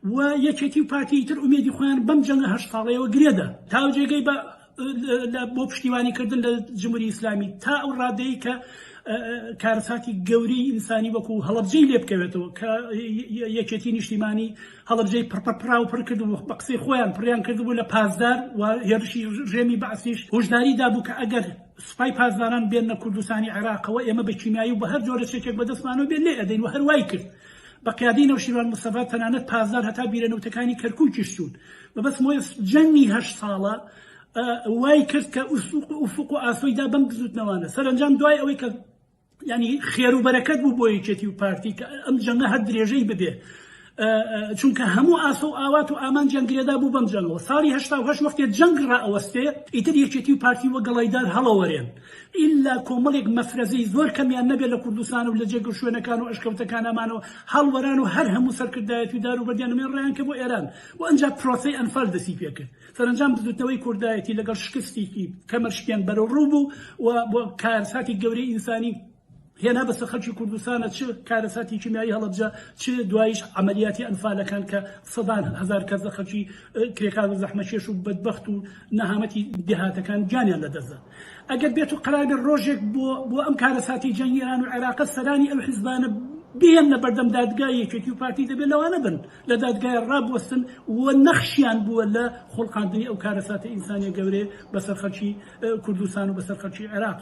و یەکێتی و پارتیی تر ئومێدی خۆیان بەم جەنگە هەشت ساڵەیەوە گرێ دا تاو جێگەی بە بۆ پشتیوانی کردن لە جمهوری ئیسلامی تا ئەو ڕادەیە کە کارەساتی گەورەی ئینسانی وەکو هەڵەبجەی لێ بکەوێتەوە کە یەکێتی نیشتیمانی هەڵەبجەی پڕپڕ پراو پڕ کرد و بە قسەی خۆیان پڕیان کردبوو لە پازدار و هێرشی ڕژێمی بەعسیش هۆشداری دابوو کە ئەگەر سوپای پاسداران بێنە کوردستانی عێراقەوە ئێمە بە کیمیایی و بە هەر جۆرە چەکێک بەدەستمانەوە بێت لێ ئەدەین و هەروای کرد بە قیادەی نەوشیروان مستەفا تەنانەت پاسدار هەتا بیرە نەوتەکانی کەرکوکیش چوون. مەبەست مۆیەس جەنگی هەشت ساڵە وای کرد کە ئوفوق و ئاسۆی دا بەم بزوتنەوانە. سەرەنجام دوای ئەوەی کە یانی خێرو بەرەکەت بوو بۆ یەکێتی و پارتی کە ئەم جەنگە هەر درێژەی ببێ چونکە هەموو ئاسۆ و ئاوات و ئامانجیان گرێدا بوو بەم جەنگەوە. ساڵی هەشتا و هەشت وەختێ جەنگ رائەوەستێ ئیتر یەکێتی و پارتی وەک گەڵایدار هەڵەوەرێن. ئیللا کۆمەڵێک مەفرەزەی زۆر کەمیان نەبێت لە کوردستان و لە جێگە و شوێنەکان و ئەشکەوتەکانامانەوە هەڵوەران و هەر هەموو سەرکردایەتی و داروبەردیان نەمێ ڕایان کرد بۆ ئێران و ئەنجا پرۆسەی ئەنفال دەستی پێ کرد. سەرەنجام بزوتنەوەی کوردایەتی لەگەڵ شکستیکی کەمەر شکێن بەرەوڕوو بوو و بۆ کارساتی گەورەی ئینسانی، هێنا بەسەر خەلکی کوردستانا چ کارەساتی کیمیایی هەڵەبجە چ دوایش عەمەلیاتی ئەنفالەکان کە سەدان هەزار کەس لە خەلکی کرێکار و زەحمەکێش و بەدبەخت و نەهامەتی دێهاتەکان گیانیان لەدەستدا ئەگەر بێت و قەرار بێت ڕۆژێک بۆ بۆ ئەم کارەساتی جەنگی ئێران و عێراقە سەرانی ئەو حزبانە بهێننە بەردەم دادگای یەکێتی و پارتی دەبێت لەوانە بن لە دادگای ڕابوەستن و نەخشیان بووە لە خوڵقاندنی ئەو کارەساتە ئینسانیە گەورەیە بەسەر خەلکی کوردستان و بەسەر خەلکی عێراق